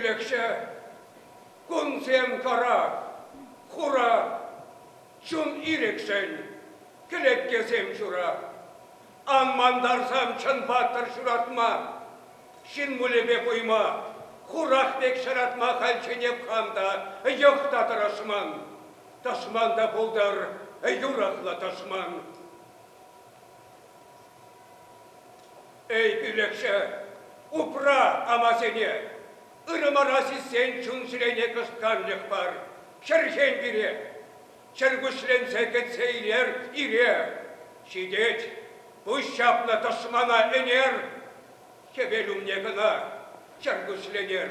кӳлӗкҫӗ, кунсем кара, хура, Чун ирӗкшӗн кӗлеткесем ҫурап. Ан мантарсан чӑн паттӑр ҫуратма. Ҫын мулӗпе куйма, хурах пек ҫаратма хальчченех хам та, йӑх та тӑрӑшман. Тӑшман та пултӑр, юрӑхлӑ тӑшман. Эй, пӳлӗхҫӗ, упра амасене! Ырӑмӑра сиссен чун-чӗрене кӑшткарчӑк пар. Чӗрҫен пире! Чӗркуҫленсе кӗтсе илер ире. Ҫитет, пуҫ ҫапнӑ тӑшмана ӗнер. Хӗвел умне кӑна чӗркуҫленер.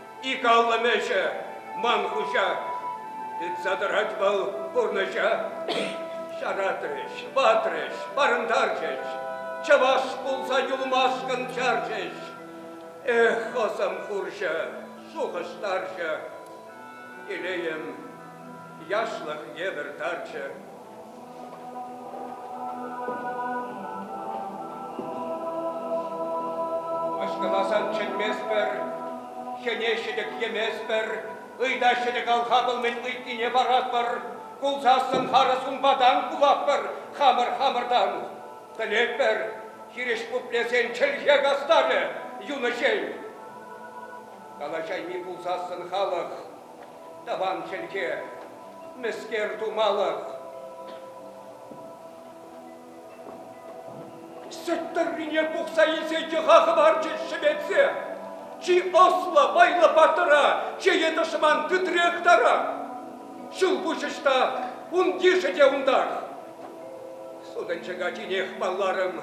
Ик аллӑм ӗҫӗ, ман хуҫа. Тытса тӑрать вӑл пурнӑҫа. Ҫаратрӗҫ, ватрӗҫ, парӑнтарчӗҫ. Чӑваш пулса юлмашкӑн чарчӗҫ. Эх, ӑсӑм хурҫӑ, шухӑштарчӗ. Телейӗм яшлӑх евӗр тарчӗ. Аҫкаласан чӗнместпӗр, хӗне ҫӗтӗк йӗместпӗр, ыйтас ҫӗтӗк алхапӑл-мӗн ыйтнине паратпӑр, кулсассӑн харӑс унпатан кулатпӑр хамӑр-хамӑртан. Пӗлетпӗр, хирӗҫ пуплесен чӗлхе кастарӗ юнӑҫен. Калаҫайми пулсассӑн халӑх Тӑван чӗлхе, мӗскер тумалӑх. Сӗт тыррине пухса илсе йӑха хӑварчӗ шӗветсе. Чи ӑслӑ вайлӑ паттӑра, чее тӑшман тытрех тарах. Ҫул пуҫӑҫта ун йышӗ те унтах. Сутӑнчӑк ачинех палларӑм.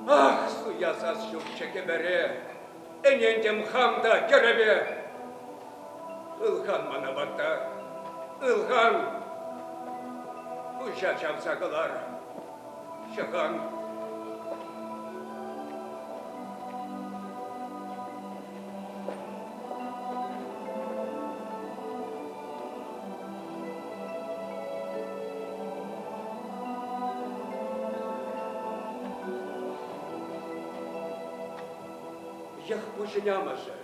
Ах, суясас ҫурчӗ кӗпере! Ӗнентӗм хам та тӗрӗпе. Ылхан мана ватта, ылхан. Пуҫа чавса кӑлар, ҫӑхан. Йӑхпуҫӗн амӑшӗ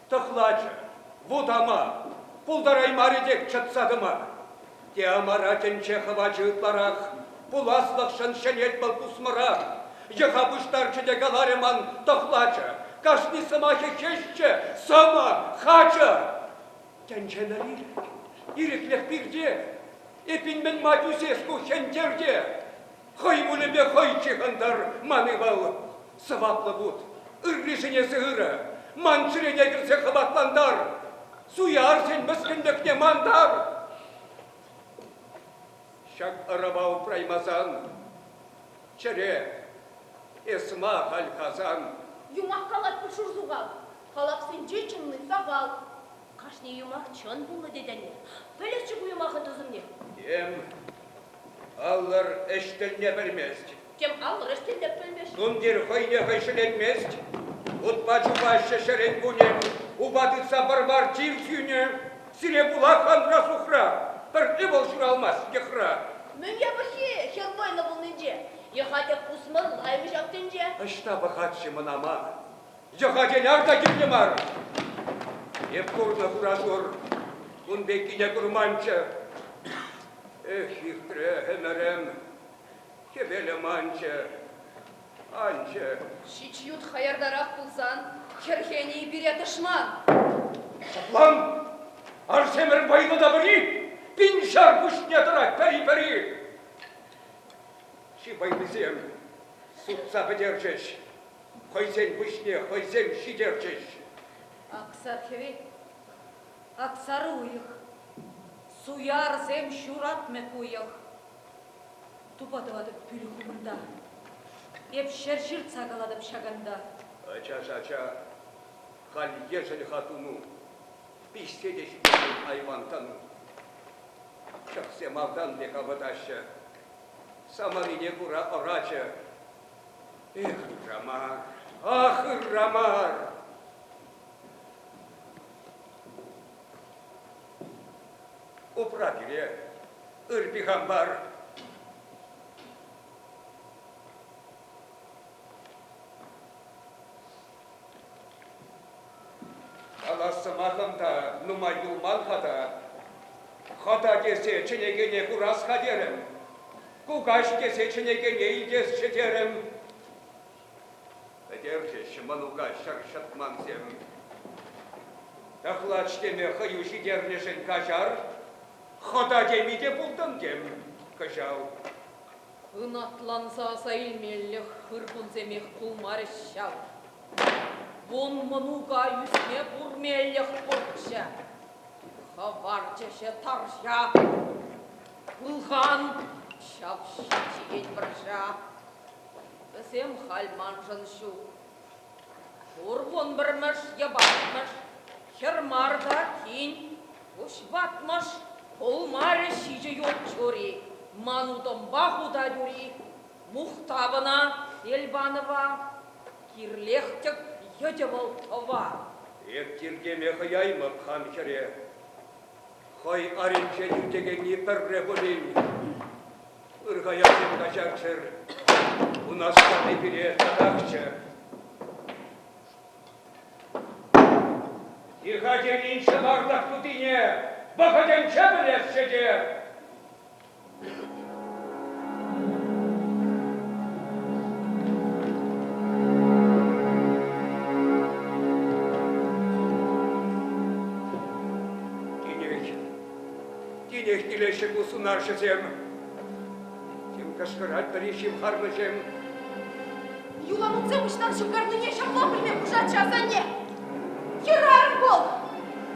тӑхлачӑ, вутама, пултараймарӗ тек чӑтса тӑма. Теамара тӗнче хӑвачӗ ытларах, пуласлӑхшӑн ҫӗнет вӑл пусмӑрах. Йӑха пуҫтарчӗ те каларӗ ман тӑхлачӑ, кашни сӑмахӗ хӗҫчӗ, сӑмах, хачӑ. Тӗнчена ирӗк, ирӗклӗх пирте, эппин мӗн ма тӳсес ку хӗнтерте? Хӑй пулӗпе хӑй ҫыхӑнтӑр ман ывал, Сӑваплӑ вут, ырришӗн эсӗ ырӑ, ман чӗрене кӗрсе хӑватлантар, суярсен мӗскӗнлӗхне мантар! Ҫак ӑрӑва упраймасан, чӗре, эс ма халь Хасан? Юмах калать пуль шурсухах, халапсенче чӑнни сахал. Кашни юмах чӑн пулнӑ тетӗн-и? Пӗлӗччӗ ку юмахӑн тӑсӑмне. Тем, паллӑр, ӗҫ тӗлне пӗлмест Тем алрӑш те тӗппӗлмӗш. Тумтир хӑй те хӑй ҫӗленмест. Утпа чупаҫҫӗ ҫӗрен-кунӗн. Упа тытса пӑр пар чир сӳнӗ. Сире пулах Андрасухра. Пӗр ывӑл ҫуралмасть йӑхра. Мӗн япӑххи хӗр кайнӑ пулнинче? Йӑха-тӗк пусмӑрлаймӗ ҫав тӗнче. Ӑҫта пӑхать-ши мӑнама? Йӑха-тен арта кирлӗ мар. Эп курнӑ хуратур. Кун пеккине курманччӗ. Эх, иртрӗ ӗмӗрӗм. Хӗвелӗм анчӗ, анчӗ. Ҫич ют хаяртарах пулсан, хӗрхенӗ-и пире тӑшман? Ҫаплан, Арҫемӗр вӑйлӑ-тапӑри пин ҫар пуҫне тӑрать пӗри-пӗри. Чи вӑйлисем сутса пӗтерчӗҫ, хӑйсен пуҫне хӑйсем ҫитерчӗҫ. Аксар хӗвел, аксар уйӑх, суярсем ҫуратмӗ ку йӑх. Тупа тӑватӑп пӳлӗх умӑнта. Эп ҫӗр ҫыртса калатӑп ҫаканта. Ача-ача, халь ешӗл-ха туну, Пиҫсе те ҫӳтекен айван тӑну. Чӑхсем малтан пек авӑтаҫҫӗ, Самарине кура ӑрачӗ. Эх, ырама, ах, ырама! Упра пире, Ыр пихампар. Калас сӑмахӑм та нумай юлман-ха та. Хата тесе чӗнекене курас-ха терӗм. Кукаҫ тесе чӗнекене илтесчӗ терӗм. Пӗтерчӗҫ мӑнука ҫӗр ҫӑтмансем. Тӑхлач теме хӑю ҫитернӗшӗн каҫар. Хӑта теми те пултӑн-тем кӑҫал? Ӑнатланса аса илмеллех хыр кунсемех пулмарӗҫ ҫав. Вун мӑнука ӳсме пурнеллех пурччӗ. Хӑварчӗҫӗ тарҫа. Пулхан, ҫап ҫичӗ-ен вӑрҫа. Вӗсем халь маншӑн ҫук, Пур вун пӗрмӗш, йӑпатмӑш, хӗр мар та тин, пуҫ ватмӑш, пулмарӗ ҫичӗ ют чури, ман утӑмпа хутать ури. Мухтав ӑна, Эльбанова, кирлех тӗк йӑтӗ вӑл тӑва. Эп тиркеме хӑяймӑп хам хӗре, хӑй аринчен ӳтекенни пӗрре пулин. Ыр хаярсем каҫарччӑр, унашкалли пире татахчӗ. Тиха тенинче арлах тутине вӑхӑтӗнче пӗлесчӗ те. Тинеч, Тинех килеҫҫӗ ку сунарҫӑсем. Тем кӑшкӑрать пӗри ҫывхарнӑҫем. Юланутсем ӑҫтан ҫывхарнине ҫапла пӗлме пушатчӗ асанне. Хӗрарӑм вӑл.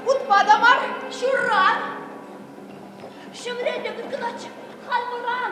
Утма та мар, ҫуран. Ҫӗмре те тыткӑнатчӗ. Халь вӑран.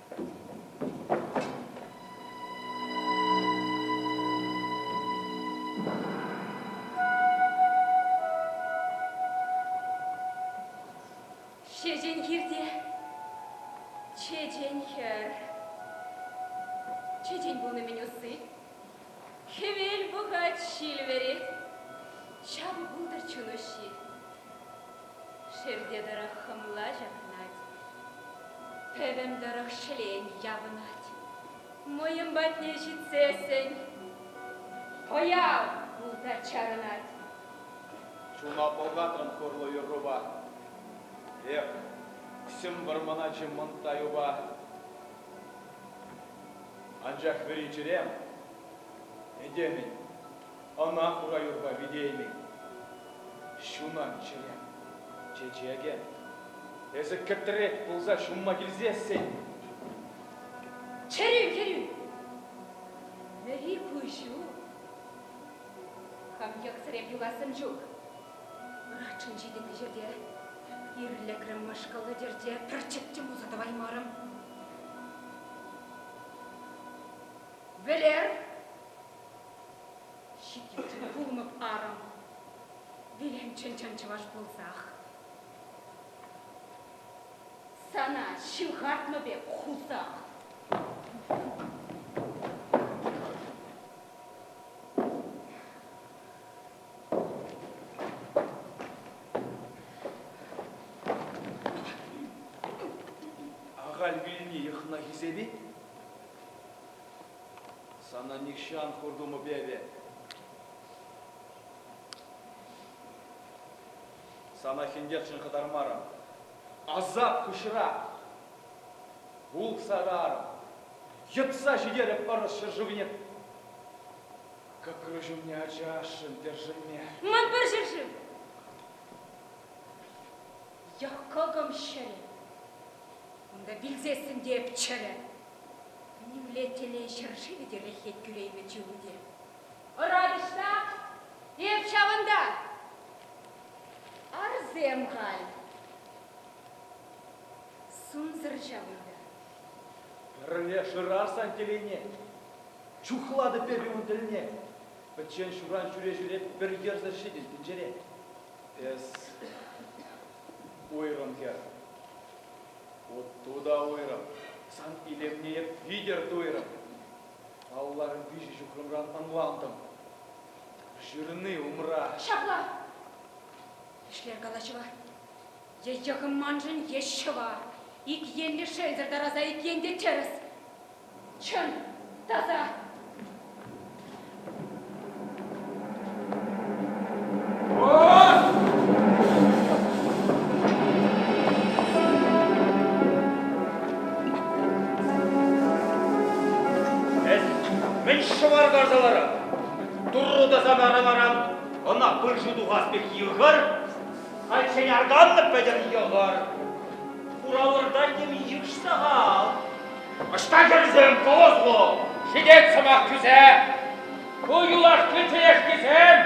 Ҫеҫен хирте чечен хӗр. Чечен пулнӑ-мӗн усси. Хӗвел пӑхать, ҫил вӗрет. Ҫавӑ пултӑр чун уҫҫи. Ҫӗрте тӑрӑх хӑмла ҫакнать, пӗвӗм тӑрӑх ҫӗлен явӑнать. Мӑйӑм патне ҫитсессӗн пӑяв пулта чарӑнать. Чуна пӑлхатӑн хурлӑ юррупа. Эх, укҫӑм вӑрманаччӗ мӑнтта юпа. Анчах вӗри чӗрем этемӗн Ӑна хура юрпа витеймӗн. Ҫунан чӗре, чечекӗ. Эсӗ кӗтрек пулса ҫунма килсессӗн. Чӗрӳ, чӗрӳ! Вӗри куҫу. Хам йӑхсӑрем юхассӑм ҫук. Пӑрахчӑн ҫитӗ пӗҫерте. Ирлӗкрӗм мӑшкӑллӑ тӗрте, пӗр чӗптӗм пулса тӑваймарӑм. Вӗлер! Ҫитет пулнӑ парӑм, вилӗмччен чӑваш пулсах. Сана ҫывхартнӑ пек хусах. Ахаль вилни йӑхна хисепет. Сана нихҫан хуртумӑп эпӗ. Сана хӗнтерчӗн хӑтармарӑм. Асап куҫра! Пул сарарӑм! Йӑтса ҫитерӗп ӑрӑс ҫӗршывне! Кӑкрӑ ҫумне ачашшӑн тӗршӗнме. Ман пӗр ҫӗршыв! Йӑх кӑкӑм ҫӗлӗ. Унта вилсессӗн те эп чӗрӗ. Нимле телей ҫӗр-шывӗ те реххет кӳреймӗ чылтине. Ӑратӑҫла эп ҫавӑнта. Арсем халь. Сунсӑр ҫавӑнта. Пӗрле шырасан телейне. Чухлатӑп эпӗ ун тӗлне. Пӗччен ҫуран ҫӳре-ҫӳре пӗр йӗрсӗр ҫитӗн тӗнчере. Эс Уйрӑм хӗр. Уту та уйрӑм. Сан илемне эп витӗр туйрӑм. Алларӑм виҫӗ ҫухрӑмран ӑнлантӑм. Ҫырни умра. Ҫапла. Ӗҫлер калаҫӑва. Е йӑхӑм маншӑн, е ҫӑва. Ик енлӗ шелсӗр тараса ик ен те тӗрӗс. Чӑн, таса! Мӗн ҫӑвар карса ларат? Турру тасан араларан ӑна пыршу тухас пек йӑхӑр, хальччен арканнӑ пӗтӗр йӑхӑр. Хуравӑрта тем йыш сахал. Ӑҫта кӗрсен тус ку? Ҫитет сӑмах тӳсе. Ку юлашки чӗрешкисем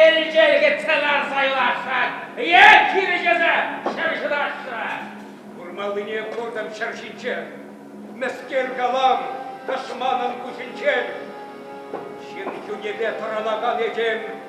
элчелӗхетсе ларса юлаҫҫӗ. Е чирӗҫесе ҫӗр ҫыраҫҫӗ. Курмаллине куртӑм ҫӗр ҫинче. Мӗскер калам тӑшманӑн куҫӗнчен? Ҫын чунӗпе тӑрӑнакан этем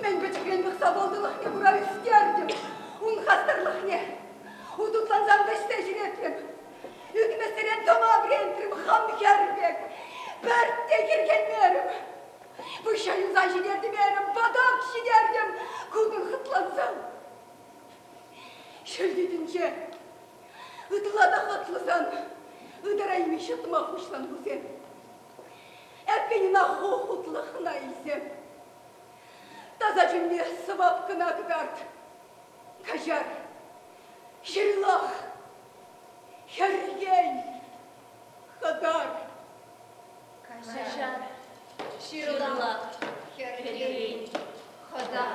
Мӗн пӗчӗкрен пӑхса вӑлтӑлӑхне кура ӳстертӗм ун хастарлӑхне. Утутлансам та ӗҫсе ҫӳретрӗм. Ӳкмесерен тӑма вӗрентрӗм хам хӗр пек. Пӗртте хӗрхенмерӗм. Пуҫа юлса ҫитертӗм эрӗм, патак ҫитертӗм, кутӑн хӑтлансам. Ҫӳлтитӗнче ытла та хӑтлӑсан ытарайми ҫӑтма пуҫлан вӗсем. Эппин, ӑна хутлӑхна илсем. Таса чунне сӑвап кӑна кӑкарт. Каҫар, ҫырлах, хӗрхен, хӑкар. Каҫар, ҫырла, хӗрхен, хӑтар.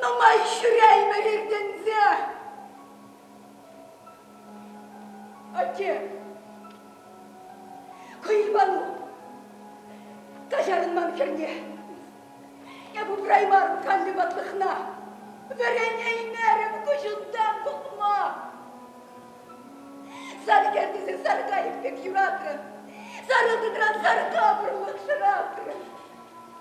Нумай ҫӳреймӗн иртӗнсе. Атте, Хӑйпану, каҫарӑн ман хӗрне. Эп упраймарӑм канлӗ ватлӑхна. Вӗренеймерӗм куҫунтан пухма. Сар кер тесе сар кайӑк пек юратрӑм. Сарӑлтӑкран сар капӑрлӑх шӑратрӑм.